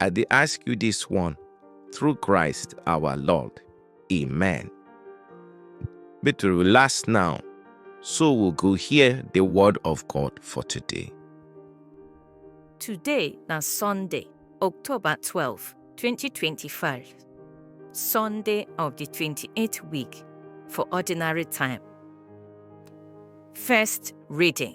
I dey ask you this one through Christ our Lord. Amen. Make we relax now, so we go hear the word of God for today. Today na Sunday, October 12, 2025. Sunday of the 28th week for ordinary time. First reading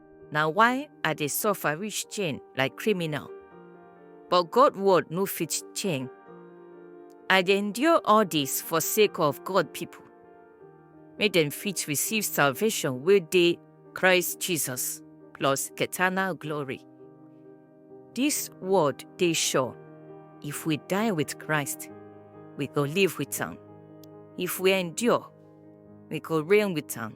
Na why I dey suffer reach chain like criminal. But God word no fit chain. I dey endure all dis for sake of God people, make dem fit receive salvation wey dey Christ Jesus plus eternal glory. Dis word dey sure, if we die with Christ, we go live with am. If we endure, we go reign with am.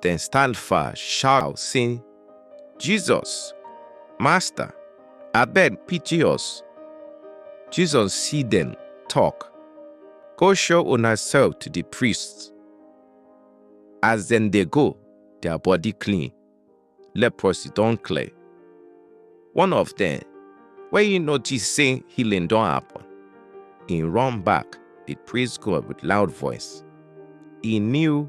Dem stand far shout sey, Jesus, Masta, abeg pity us! Jesus see dem, talk, Go show unaself to di priests. As dem dey go, dia body clean, leprosy don clear. One of dem, wen e notice sey healing don happen, e run back dey praise God with loud voice. E kneel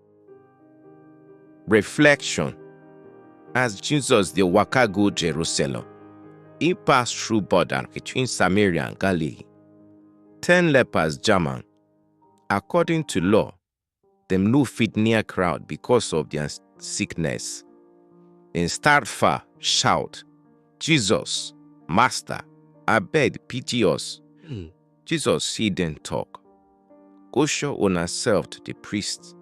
Reflection As Jesus dey waka go Jerusalem, e pass through border between Samaria and Galilee. Ten lepers jam am. According to law, dem no fit near crowd because of their sickness. Dem start far, shout, Jesus, Master, abeg pity us. Jesus see dem talk, Go show una self to the priest.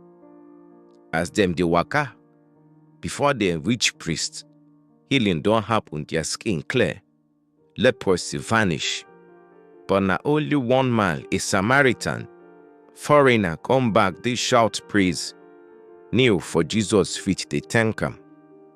As dem dey waka, before dem reach priest, healing don happen, their skin clear, leprosy vanish. But na only one man, a Samaritan, foreigner, come back dey shout praise, kneel for Jesus feet dey thank am.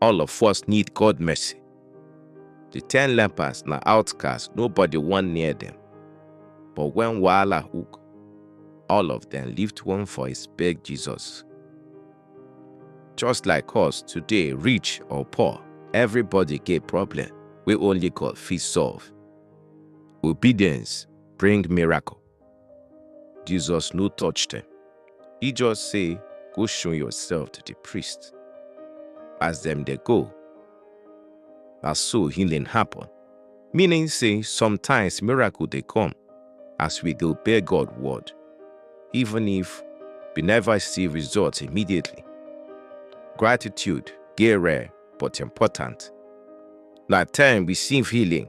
All of us need God mercy. The ten lepers na outcasts, nobody wan near them. But when wahala hook, all of them lift one voice beg Jesus. Just like us today, rich or poor, everybody get problem wey only God fit solve. Obedience bring miracle. Jesus no touch dem. He just say, Go show yourself to the priest. As dem dey go, na so healing happen. Meaning say sometimes miracle dey come as we dey obey God word, even if we never see results immediately. Gratitude dey rare but important. Na time receive healing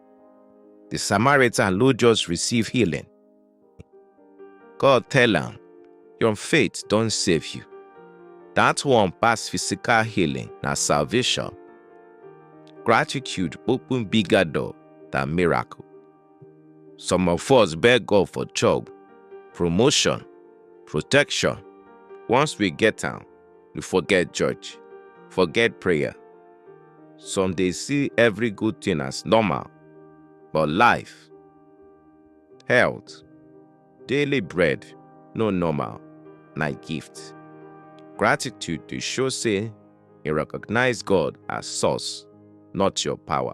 The Samaritan no just receive healing. God tell am, Your faith don save you. That one pass physical healing na salvation. Gratitude open bigger door than miracle. Some of us beg God for job, promotion, protection. Once we get am, you forget church, forget prayer. Some dey see every good thing as normal, but life, health, daily bread no normal, na gift. Gratitude dey show say you recognize God as source, not your power.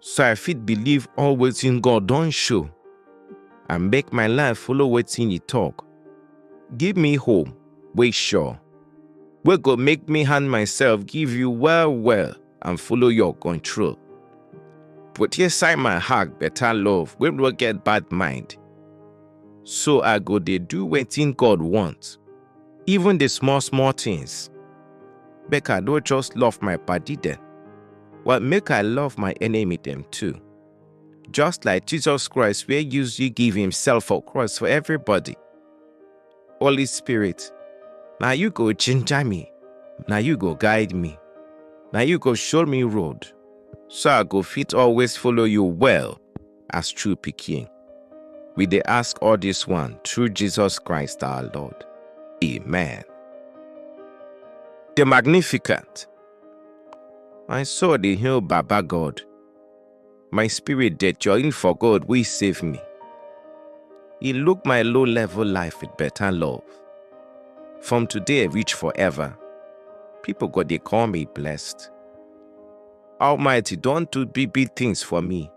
so I fit believe all wetin God don show and make my life follow wetin e talk. Give me hope wey sure, wey go make me hand myself give you well well and follow your control. Put inside my heart better love wey no get bad mind, so I go dey do wetin God want. even the small small things. Make I no just love my body dem, but make I love my enemy dem too. Just like Jesus Christ wey use you give himself for cross for everybody. Holy Spirit, na you go ginger me, na you go guide me, na you go show me road, so I go fit always follow you well. as true pikin. We dey ask all this one through Jesus Christ our Lord. Amen. The Magnificent. My soul dey hail Baba God. My spirit dey join for God wey save me. He look my low level life with better love. From today reach forever, people go dey call me blessed. Almighty don do big big things for me,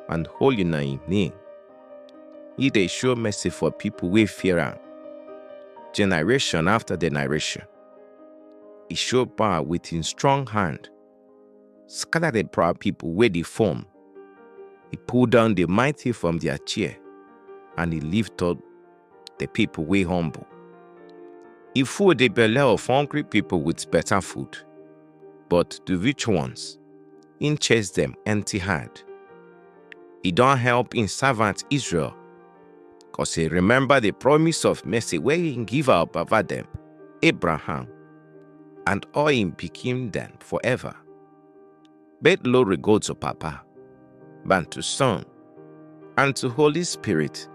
and holy na im name. He dey show mercy for people wey fear am, generation after generation. He show power with him strong hand, scatter the proud people wey dey form. He pull down the mighty from their chair, and he lift up the people wey humble. E full the belle of hungry people with better food, but the rich ones, im chase them empty hand. E don help im servant Israel, cause e remember the promise of mercy wey im give our baba dem, Abraham, and all im pikin dem forever. Bet glory go to Papa, and to Son, and to Holy Spirit,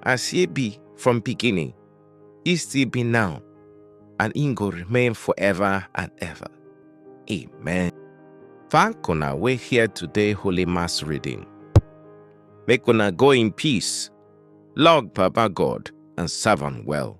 as ye be from beginning, ye still be now, and in go remain forever and ever. Amen. Thank una we here today Holy Mass reading. Make una go in peace, log Papa God, and serve well.